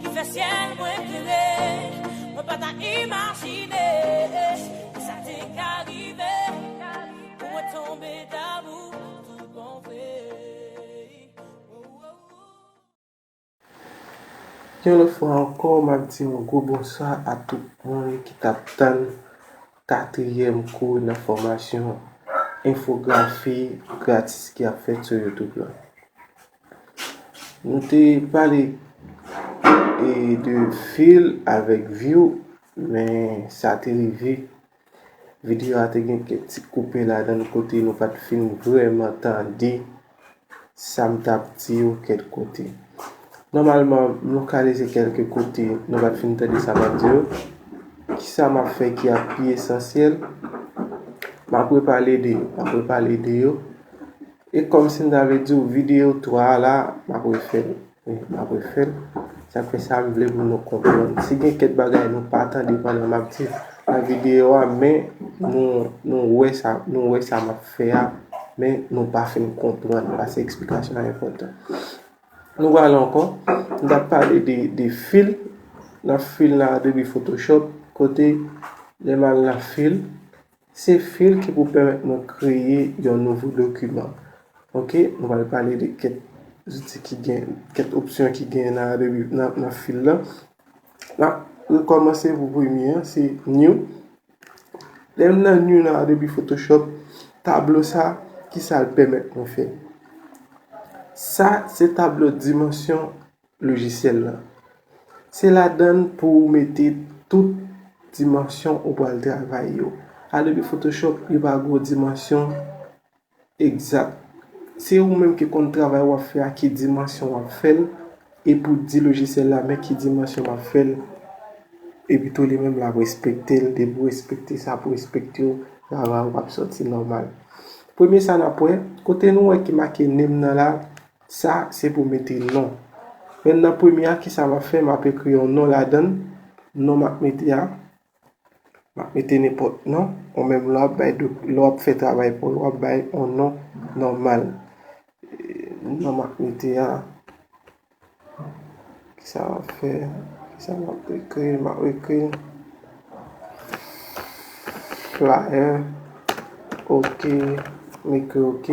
Ki fè syèl mwen klere. Mwen pa ta imajine. Ki sa te ka rive. Pou mwen tonbe damou tout bon vre. Yon lòt fwa ankò map di yon gwo bonswa a tout moun ki tap tann katriyèm kou nan fòmasyon enfografi gratis ki ap fèt sou youtube lan. Nou te pale e de fil avèk view men sa te rive video a te gen kèk ti koupe ladan kote nou pat fin vrèman tande sam tap di yo kèk kote. Nòmalman m lokalize kèlke kote nou pat fin tande sa map di yo. Kisa map fè ki ap pi esansyèl? Map repale de yo, map repale de yo. E kòmsi m ta vle di w videyo 3 a la m ap refè l. Wi, m ap refè l. Sa fè sa m vle pou nou konprann. Si gen kèk bagay nou pa tande pandan m ap di nan videyo a men nou wè sa nou wè sa m ap fè a men nou pa fin konprann pase eksplikasyon an enpòtan. Nou pral ankò, m t ap pale de fil nan fil nan Adobe Photoshop kote lè m al nan fil Se fil ki pou pèmèt mwen kreye yon nouvo dokiman. Ok, nou pral pale de kèk zouti ki gen, kèk opsyon ki gen nan Adobe, nan fil la. Nan, nou kòmanse pou premye an, se New. Lè m nan New nan Adobe Photoshop, tablo sa, ki sa l pèmèt mwen fè? Sa, se tablo dimansyon lojisyèl lan. Se ladann pou ou mete tout dimansyon ou pral travay yo. Adobe Photoshop yo pa gwo dimansyon egzat. Se ou menm ki konn travay wap fè a ki dimansyon wap fèl e pou di lojisyèl la men ki dimansyon map fèl e pito li menm lap respektel depi ou respekte sa pou respekte ou travay ou ap soti nòmal. Premye sa nap wè, kote nou wè ki make nem nan la Sa se pou mete non. Men nan premye a kisa m ap fè m ap ekri yon non ladan l. Non m ap mete a, m ap mete nenpòt non. Ou menm lè w ap bay do, lè w ap fè travay pou w, w ap bay yon non nòmal. Non m ap mete a. Kisa map fè kisa map ekri map ekri flyer ok m ekri ok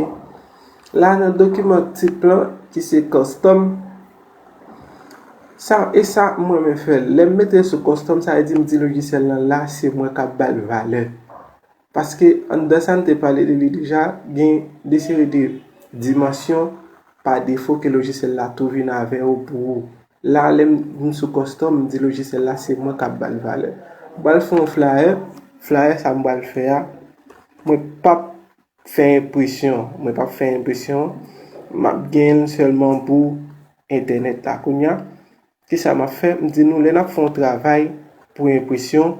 la nan dokiman tip lan ki se custom sa e sa m renmen fè lèm mete sou custom sa vle di m di lojisyèl lan la se mwen kap bal valè Paske anndan sa n te pale de li deja, gen de seri de dimansyon pa defo ke lojisyèl la tou vin avè yo pou ou. La lè m vin sou kòstòm, m di lojisyèl la se mwen k ap ba l valè. M pral fè yon flayè, flayè sa m pral fè a, mwen p ap fè enpresyon, mwen p ap fè enpresyon, m ap gen l sèlman pou entènèt la. Kounya, Ki sa m ap fè? M di nou lè n ap fè yon travay pou enpresyon,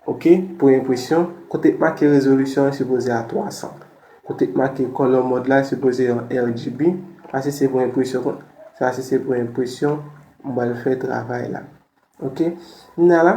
ok, pou enpresyon, kote k make rezolisyon an sipoze a 300. Kote k make color mode la sipoze yon RGB. Sa si se pou enpresyon kon. Sa si se pou enpresyon, m pral fè travay la. Ok. Kounya la,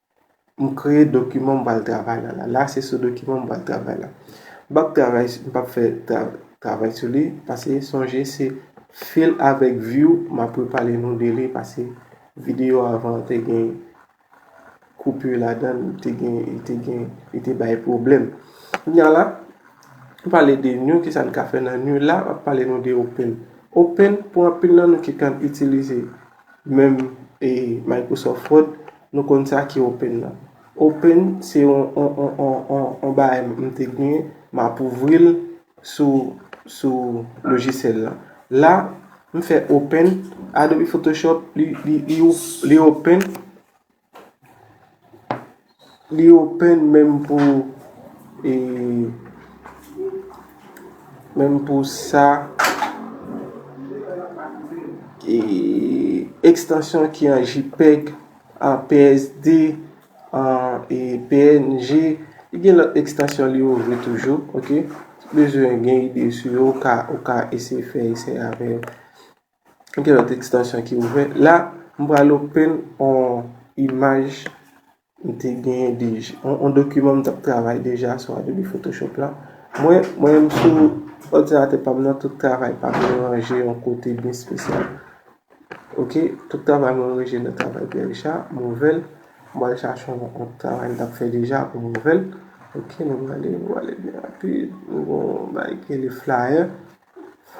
M kreye dokiman m pral travay la. La se sou dokiman m pral travay la. M pap travay, m pap fè travay sou li. Pase sonje se fil avèk view m ap repale nou de li. Pase videyo avan an te gen koupi ladan l, te gen, te gen, te bay pwoblèm. Kounya la, m pale de new, ki sa n ka fè nan new la. M ap pale nou de open. Open pou anpil nan nou ki konn itilize. Menm e Microsoft Word nou konn sa ki open nan. Open se yon yon bagay m te gnyn m ap ouvri l sou sou lojisyèl lan. La m fè open Adobe Photoshop li li li open. Li open menm pou e menm pou sa e ekstansyon ki an jipeg an PSD an e png e gen lòt ekstansyon li ouvri toujou ok si bezwen gen ide sou yo ou ka eseye fè esè avèl. Gen lòt ekstansyon ki ouvè. La, m pral open on imaj m te genyen deja. On dokiman m t ap travay deja sou Adobe Photoshop la. Mwen, mwen menm sou òdinatè pa m nan, tout travay pa m yo ranje yon kote byen spesyal. Ok, tout travay mwen ranje nan travay Pierre Richard. M ouvè l. M pral chache on lòt travay m t ap fè deja pou m ouvè l. Ok, nou prale, nou prale byen rapid. Nou gen yon bagay ki rele flyer.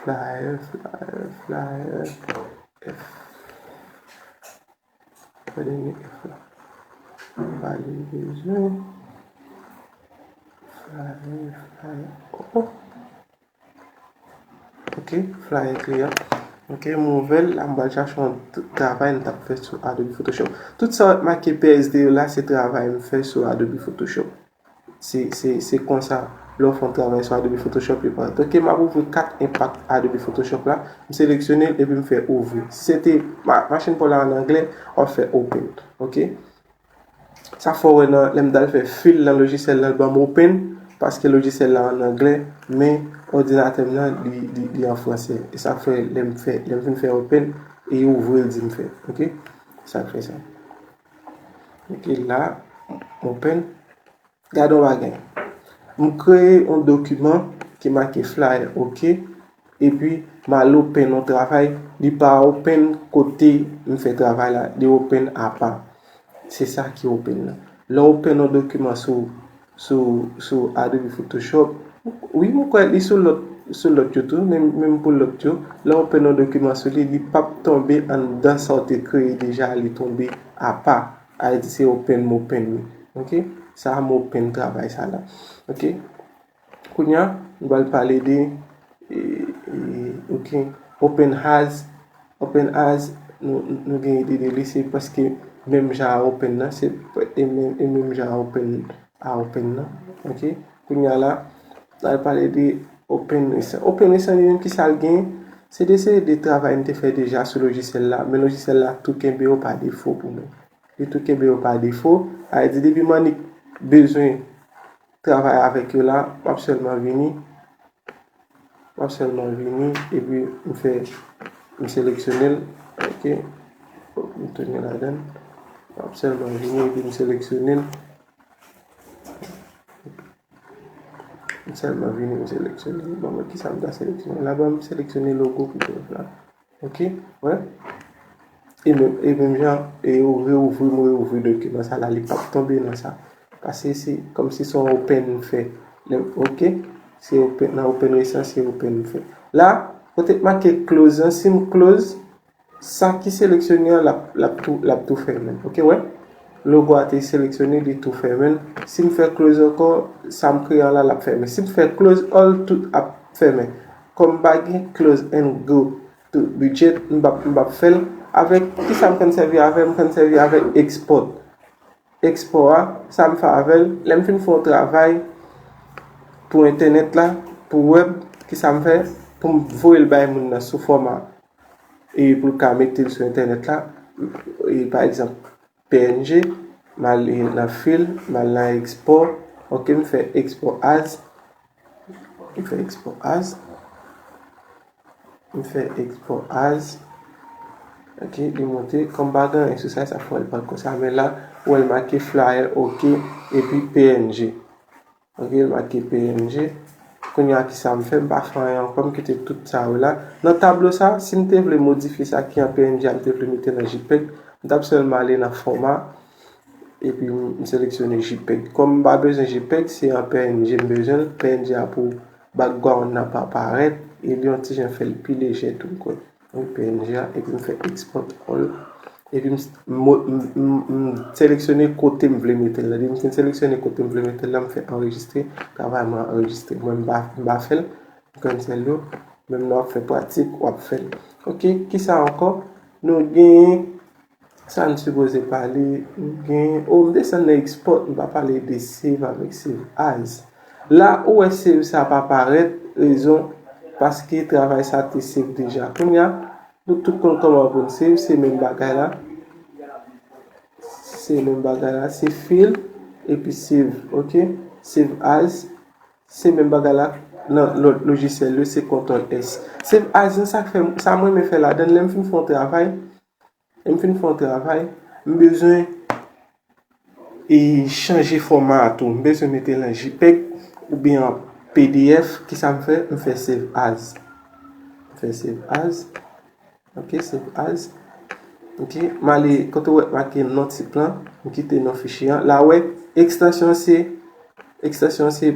Flyer, flyer, flyer, F. Fè dènye F la. Valye bezwen. Flyer, flyer, oh oh. Ok, flyer kliyan. Ok, mou vel, la mba chache yon travay m tap fè sou Adobe Photoshop. Tout sa wè make PSD yo la se travay m fè sou Adobe Photoshop. Se konsa lè w fè yon travay sou Adobe Photoshop li paret. Ok map ouvri kat enpak Adobe Photoshop la. M seleksyone l epi m fè ouvri. Si se te machin pa w la an anglè, w ap fè open. Ok. Sa fè w wè nan lè m ta l fè fil nan lojisyèl la l banm open paske lojisyèl la an anglè men òdinatè m nan li an fransè. E sa fè lè m fè lè m fin fè open li ouvri l di m fè. Ok. Sa k fè sa. Ok la, open. Gade yon bagay. M kreye yon dokiman ki make flyer, ok. E pi m al open yon travay, li pa open kote m fè travay la, li open apa. Se sa ki open la. Lè w open yon dokiman sou Sou sou Adobe Photoshop. Wi m kwè li sou lòt sou lòt yo tou menm menm pou lòt yo lè ou pè non dokiman sou li li pap tonbe anndan sa ou te kreye deja li tonbe apa al di se open m open li ok sa m open travay sa la ok kounya m pral pale de. Ok open has open has nou gen ide de li se paske menm jan a open nan se e menm jan a open a open nan ok kounya la lal pale de open resan open resan li menm kisa l gen se de se de travay nou te fè deja sou lojisèl la men lojisèl la tou kenbe yo pa defo pou nou li tou kenbe yo pa defo a di depi mannik bezwen travay avèk yo la, m ap sèlman vini, m ap sèlman vini epi m fè, m seleksyone l, ok, fòk m tounen ladan l, m ap sèlman vini epi m seleksyone l, m sèlman vini m seleksyone l, bon men kisa m ta seleksyone la, bon m seleksyone logo pito la. Ok, wè. E menm, e menm jan, e yo reouvri, mwen reouvri dokiman sa la, li pap tonbe nan sa. Pase se, kom si son open m fè. Lem, ok, se open, nan open resan, se open m fè. La, kote k make close an, si m close, sa ki seleksyone an, lap, lap tou, lap tou fèmen. Ok, wè. Logo a te seleksyone, li tou fèmen. Si m fè close anko, sa m kreye an la, lap fèmen. Si m fè close all, tout ap fèmen. Kom pa gen close and go to budget m pap fèl avèk kisa m konn sèvi avèl m konn sèvi avèk export export a sa m fè avèl lèm fin fè yon travay pou entènèt la pou web kisa m fè pou m voyel bay moun nan sou foma e pou l ka metel sou entènèt la e pa egzanp Png, M al nan fil, m al nan ekspò, ok m fè ekspò as, m fè ekspò as, m fè ekspò as, ok li monte, kòm m pa gen anyen sou sa, sa fè w al pran konsa, men la ou wè l make flyer ok epi png. Ok ma ki png kounye a kisa m fè m pa fè anyen ankò m kite tout sa yo la nan tablo sa si m te vle modifye sa ki an png a m te vle mete nan jpeg m tap sèlman ale nan fòma epi m seleksyone jpeg kòm m pa bezwen jpeg se an png m bezwen l png a pou background nan pa parèt e li yon ti jan fè l pi lejè tou m kwè. Mwen png a epi m fè export all epi m seleksyone kote m vle metel la depi m fin seleksyone kote m vle metel la m fè anrejistre travay mwen anrejistre mwen m pa fèl cancel yo menm lè wap fè pratik wap fèl ok kisa ankò nou gen Sa n sipoze pale gen oh m desann nan export m pa pale de save avèk save as la ou wè save sa pa parèt rezon paske travay sa te save deja kounya nou tout konn kòman pou n save se menm bagay la se menm bagay la se fil epi save ok save as se menm bagay la nan lòt lojisyèl yo se kontòl s save as sa k fè sa m renmen fè ladan lè m fin fè yon travay Lè m fin fè yon travay, m bezwen e chanje fòma a tou. M bezwen mete l an jpeg oubyen an pdf. Kisa m fè? M fè save as. M fè save as. Ok, save as. Ok, m ale kote ou wè make non tip lan. M kite non fichye an. La ou wè, ekstansyon an se, ekstansyon an se.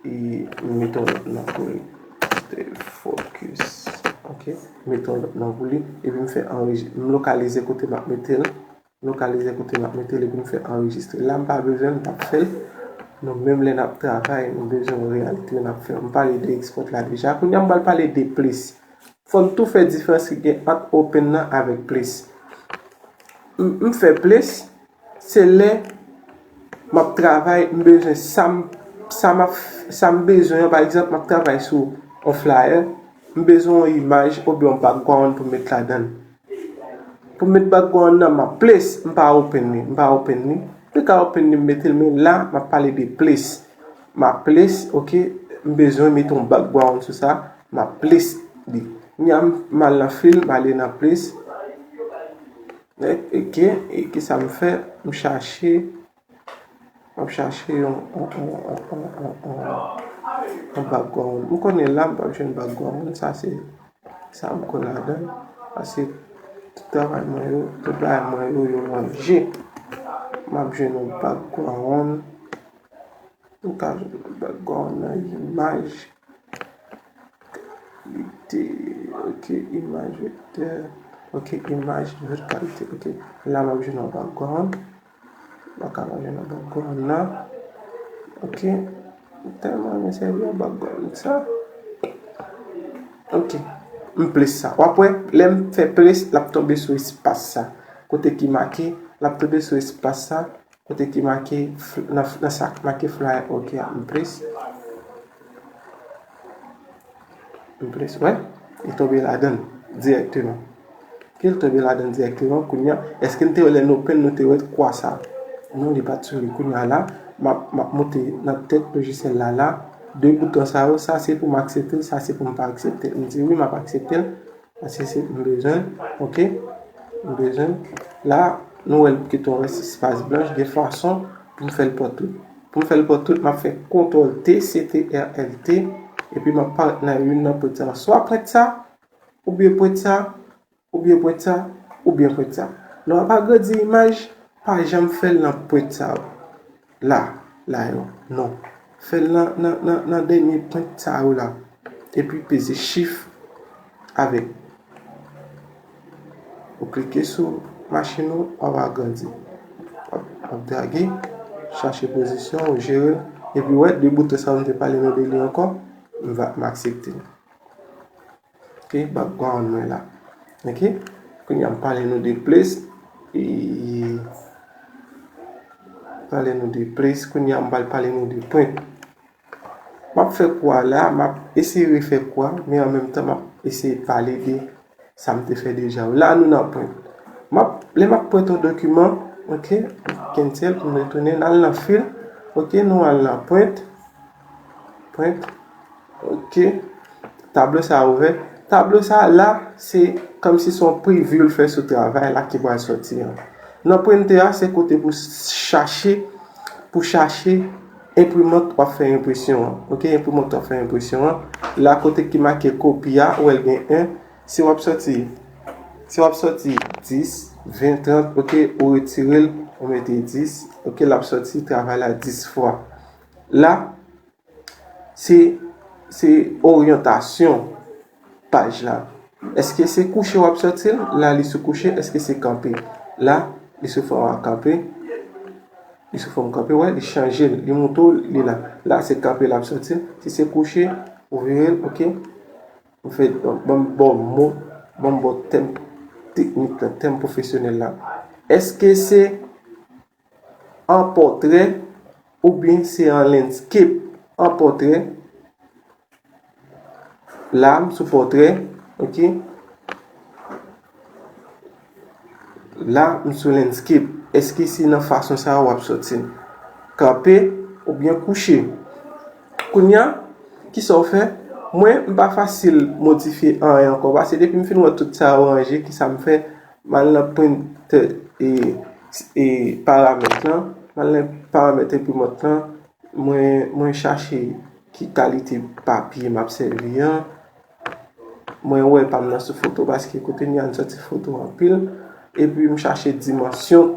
Meton lòt nan pou li Stay focus Ok Meton lòt nan pou li Epi m fè anrejis M lokalize kote m ap mete l M lokalize kote m ap mete l epi m fè anrejistre La m pa bezwen l m pa p fè l Nou menm lè n ap travay nou bezwen yon reyalite lè n ap fè M pale de export la deja Kounye a m pral pale de place Fò n tou fè diferans ki gen ant open nan avèk place M fè place Se lè m ap travay, m bezwen sa m, sa m ap, sa m bezwen an, pa egzanp m ap travay sou yon flayè, m bezwen yon imaj oubyen yon background pou m met ladan l. Pou m met background nan, m ap place, m pa open li, m pa open li. Mwen ka open li m mete l men la m ap pale de place. M ap place, ok, m bezwen mete yon background sou sa, m ap place li. Kounye a m al nan fill, m ale nan place. Ok e kisa m fè m chache map chache yon yon background m konnen la m pap jwenn background m sa se sa m konn ladann pase tout travay mwen yo tout bagay mwen yo yo ranje map jwenn yon background m ka jwenn yon background nan imaj. Kalite ok imaj vektè ok imaj lòt kalite ok la map jwenn yon background mwen paka pa jwenn yon background nan ok mwen tèlman renmen sèvi ak background sa ok m plis sa wap wè lèm fè plis lap tonbe sou espas sa kote ki make lap tonbe sou espas sa. Kote ki make nan sa ki make flyer ok a m plis m plis wè li tonbe ladann dirèkteman ke l tonbe ladann dirèkteman kounye a èske n te wè lè n open nou te wè kwa sa non li pat sou li kounye a la m ap moute nan tèt lojisyèl la la 2 bouton sa yo sa se pou m aksepte l sa se pou m pa aksepte l m di wi m ap aksepte l Ase se m bezwen ok m bezwen la nou wèl bouke twò wè se spas blanch gen fason poum fèl pò tout poum fèl pò tout map fè kontrol t ctrl t epi map paret nan youn nan pwent sa swa pwent sa oubyen pwent sa oubyen pwent sa oubyen pwent sa lè wap agrandi imaj pa janm fèl nan pwent sa yo. La, la yo. Non. Fè l nan, nan, nan, nan dènye pwent sa yo la. Epi peze Shift avèk. Ou klike sou machin ou, wap agrandi. Wap drage, chache pozisyon ou, jere l. Epi wè, de bouton sa yo m te pale nou de li ankò, m va, m aksepte l. Ok background mwen la. Ok kounye a m pale nou de place pale nou de place kounye a m pral pale nou de print. M ap fè kou a la m ap eseye refè kou a men an menm tan m ap eseye pale de sa m te fè deja. La nou nan print. M ap lè m ap print yon dokiman ok m cancel pou m retounen nan l nan fil ok nou al nan print. Print. Ok. Tablo sa a ouvè. Tablo sa a la, se kòm si son preview l fè sou travay la ki pral sòti an. Nan printer a, se kote pou chache, pou chache enprimant wap fè enpresyon an. Ok, enprimant wap fè enpresyon an. La kote ki make kopi a, ou wè l gen 1. Si wap sòti, si wap sòti 10, 20, 30, ok, ou retire l, ou mete 10. Ok, lap sòti travay la 10 fwa. la se se oryantasyon paj la eske se kouche wap soti la li sou kouche eske se kanpe la li sou fòm a kanpe li sou fòm kanpe wè li chanje li moute w li la la se kanpe lap soti si se kouche ou vire l ok ou fè banm bo mo banm bo tèm teknik la tèm pwofesyonèl la eske se an pòtrè oubyen se an landscape an pòtrè la m sou pòtrè ok la m sou landscape eske se nan fason sa wap soti kanpe oubyen kouche kounya kisa w fè mwen m pa fasil modifye anyen ankò paske depi m fin wè tout sa yo ranje kisa m fè M al nan printè e paramèt lan, m al nan paramèt enprimant lan, mwen chache ki kalite papye m ap sèvi an, mwen wè pa m nan sou foto paske kote m ye a m soti foto anpil, epi m chache dimansyon.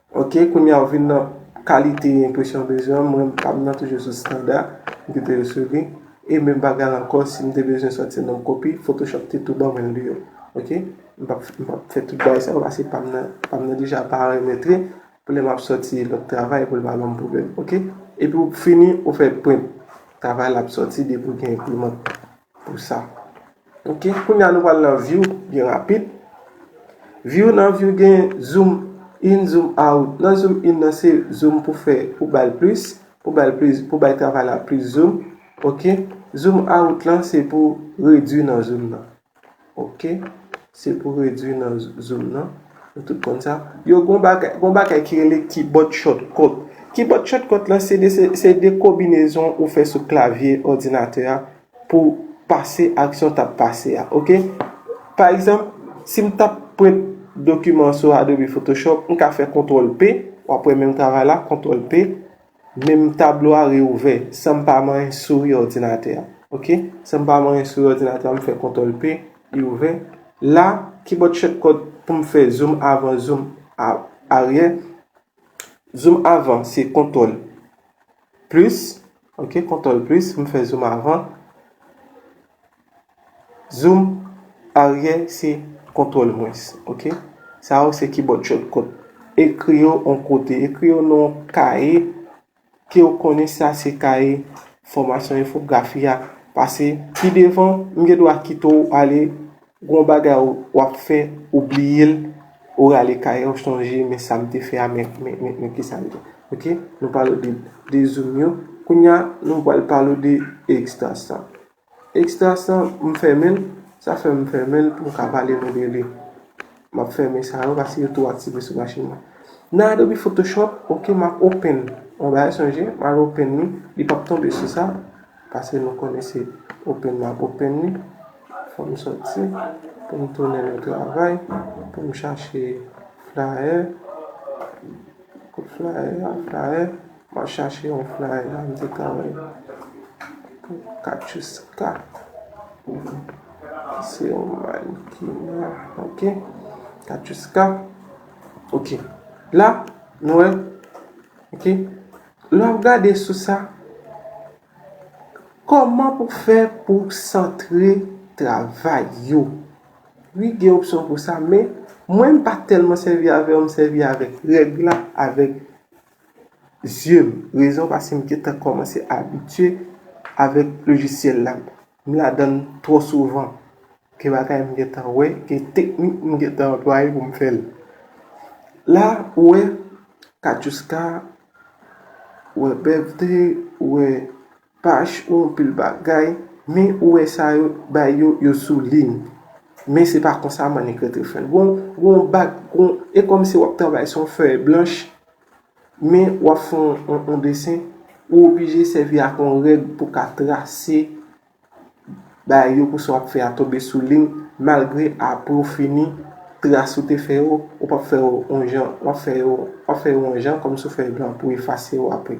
Ok kounye a ou vin nan kalite enpresyon bezwen mwen m pam nan toujou sou standa m kite yo sou li e menm bagay la ankò si m te bezwen sòti nan kopi photoshop te tou ban mwen l deyo ok m pap m pap fè tout bagay sa yo pase pam nan pam nan deja parametre pou lè map sòti lòt travay pou l pa banm pwoblèm ok epi ou fini ou fè print travay la ap sòti depi ou gen enprimant. Pou sa. Ok kounye a nou pral nan view byen rapid. View nan view gen zoom in zoom out. Nan zoom in nan se zoom pou fè pou bay plis. Pou bay plis pou bay travay la plis zoom. Ok zoom out lan se pou redwi nan zoom nan. Ok se pou redwi nan zoom nan nou tout konn sa yo gon bagay gon bagay ki rele kibòd chòtkòt kibòd chòtkòt lan se de se de kobinezon ou fè sou klavye òdinatè a pou pase aksyon tap pase a ok pa egzanp si m tap prent dokiman sou adobe photoshop m ka fè kontrol p wap wè menm travay la kontrol p Menm tablo a reouvè. San m pa manyen souri òdinatè a. Ok. San m pa manyen souri òdinatè a, m fè kontòl P, li ouvè. La, kibòd chòtkòt pou m fè zoum avan, zoum aryè. Zoum avan se kontòl plis. Ok, kontòl plis, m fè zoum avan. Zoom aryè se kontwòl mwens ok sa yo se kibòd shòtkòt ekri yo yon kote ekri yo nan yon kaye ke ou konnen sa se kaye fòmasyon enfografi a pase pi devan m gen dwa kite ou ale gen yon bagay w ap fè ou bliye l ou rale kaye a ou chanje men sa m te fè a men kisa m te ok nou pale de zoom yo kounya nou pral pale de ekstansyon Extras lan m fèmen l, sa fè m fèmen l pou m ka pale nou de li. M ap fèmen sa yo paske yo tou aktive sou machin mwen. Nan Adobe Photoshop, ok, m ap open yon bagay sonje, m al open li, li p ap tonbe sou sa, paske nou konnen se open m ap open li. Fò m soti pou m tounen nan travay, pou m chache flyer, kote flyer a, flyer. Map chache yon flyer la m te ka wèl pou Katiouska ki se yon mannequin ok Katiouska ok la nou wè ok lè wap gade sou sa kòman pou fè pou santre travay yo wi gen opsyon pou sa men mwen m pa tèlman sèvi avèl m sèvi avèk règ la avèk yeux m, rezon pase m gentan komanse abitye avek lojisyel la, m ladann tro souvan, gen bagay m gentan wè, gen teknik m gentan anplwaye pou m fèl. La ou wè Katchouska, ou wè Bevthe, ou wè Paj ou anpil bagay men ou wè sa yo t bay yo yo sou lin men se pa konsa mannik rentre fèl gon gon bag gon e kòmsi wap travay son fèy blanch men wap fè yon desen ou oblije sèvi ak yon règ pou ka trase bagay yo pou sa wap fè a tonbe sou lin malgre apre ou fini tras ou te fè yo ou pap fè yo yon jan wap fè yo wap fè yo yon jan kòmsi ou fè yo blan pou efase yo apre.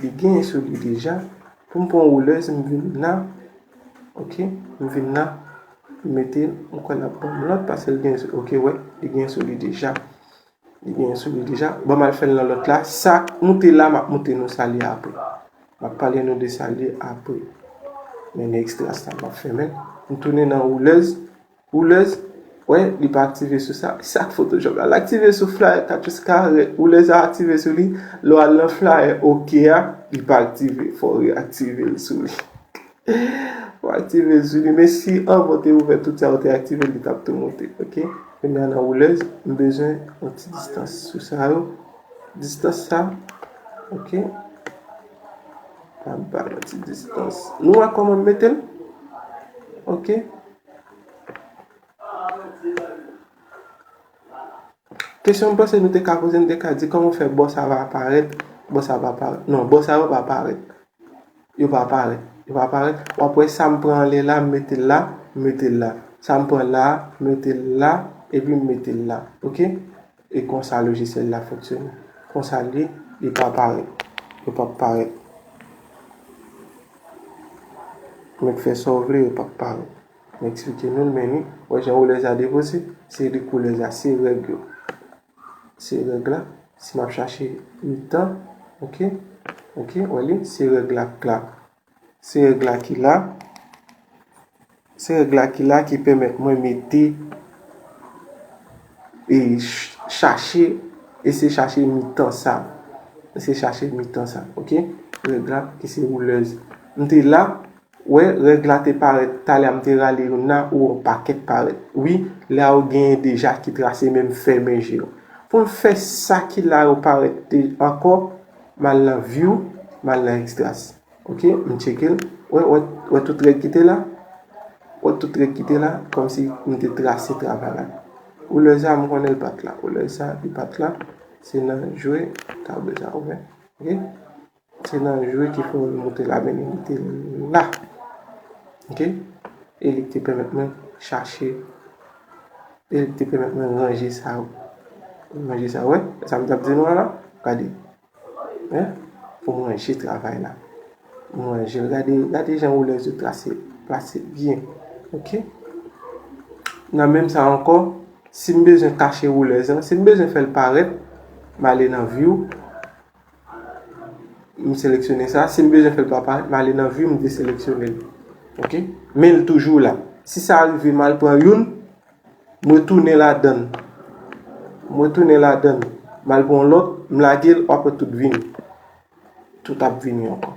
Li genyen sou li deja. Pou m pran woulèz m vin la. Ok. M vin la. M mete l. M kwè l ap ban m lòt paske l genyen sou li. Ok wè. Li genyen sou li deja. Li genyen sou li deja. Ban m al fè l nan lòt la. Sa moute la m ap moute nou sa li apre. M ap pale nou de sa li apre. Men ekstra sa m ap fèmen. M tounen nan woulèz. Oulez, wè li pa aktive sou sa. Ki sa ak photoshop la? L aktive sou flyer 4 pous kare, oulez a aktive sou li, lè w al nan flyer ok a, li pa aktive, fò w reaktive l sou li. Fò w aktive l sou li, men si anvan w te ouvè tout sa ou te aktive l, li t ap tou moute, ok. Kounye a nan oulez, m bezwen yon ti distans sou sa yo, distans sa, ok. An m bay yon ti distans. Nou wè kòman m mete l? Ok. Kesyon m panse nou te ka poze, nou te ka di kòman fè bò sa va aparèt, bò sa va aparèt. Non, bò sa yo pa aparèt. Yo pa aparèt. Yo pa aparèt. W ap wè sa m pran anlè la, m mete l la, m mete l la. Sa m pran la a, m mete l la, epi m mete l la. Ok? E konsa lojisyèl la fonksyone. Konsa l ye, li pa parèt. Yo pap parèt. Mèt fè sa w vle, yo pap parèt. M eksplike nou l, men li, wè jan woulèz la depoze? Se li koulèz la, se règ yo. Se règ la, si m ap chache mitan, ok, ok, wè li, se règ la k la. Se règ la ki la. Se règ la ki la ki pèmèt mwen mete e chache e se chache mitan sa. E se chache mitan sa. Ok. Règ la ki se woulèz. M te la. Wè règ la te parèt. Talè a m te rale yon nan ou an pakèt parèt. Wi. La ou genyen deja ki trase menm fèmen je yo. Pou m fè sa ki la yo parèt te ankò. Mal nan view mal nan extras ok m tchekel wè wè tout règ kite la wè tout règ kite la kòmsi m te trase travay la ou lè sa m konnen l pat la ou lè sa li pat la se nan jwe tablo sa ou wè ok se nan jwe ki fè m moute la men li te la ok e li te pèmèt mwen chache E li te pèmèt mwen ranje sa yo. Ranje sa yo. Wè? Wè sa m t ap di nou an la? Gade. Hein? Pou m ranje travay la. M ranje l. Gade, gade jan woulèz yo trase, plase byen. Ok? Nan menm sa ankò, si m bezwen kache woulèz lan, si m bezwen fè l parèt, m ale nan View. M seleksyone sa. Si m bezwen fè l pa parèt, m ale nan view, m deseleksyone l. Ok. Men l toujou la. Si sa rive m al pran youn, m retounen ladan. M retounen ladan. M al pran yon lòt, m lage l, w ap wè tout vini. Tout ap vini ankò.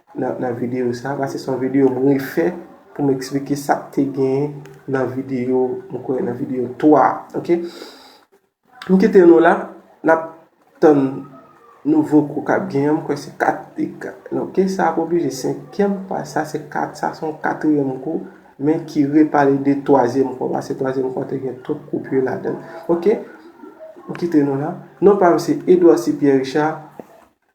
Nan video sa, ba se son video m refè pou m eksplike sa k te gen nan video, m kwè nan video 3 a, ok. M kite nou la, n ap tann nouvo kou k ap gen an, m kwè se 4 e 4, non ke sa ap oblije senkyèm pa sa se 4, sa se yon katriyèm kou, men ki repale de twazyèm kou, ba se twazyèm kou a te gen tout kou pye ladan l, ok. M kite nou la, non pa m se Edouard C. Pierre Richard.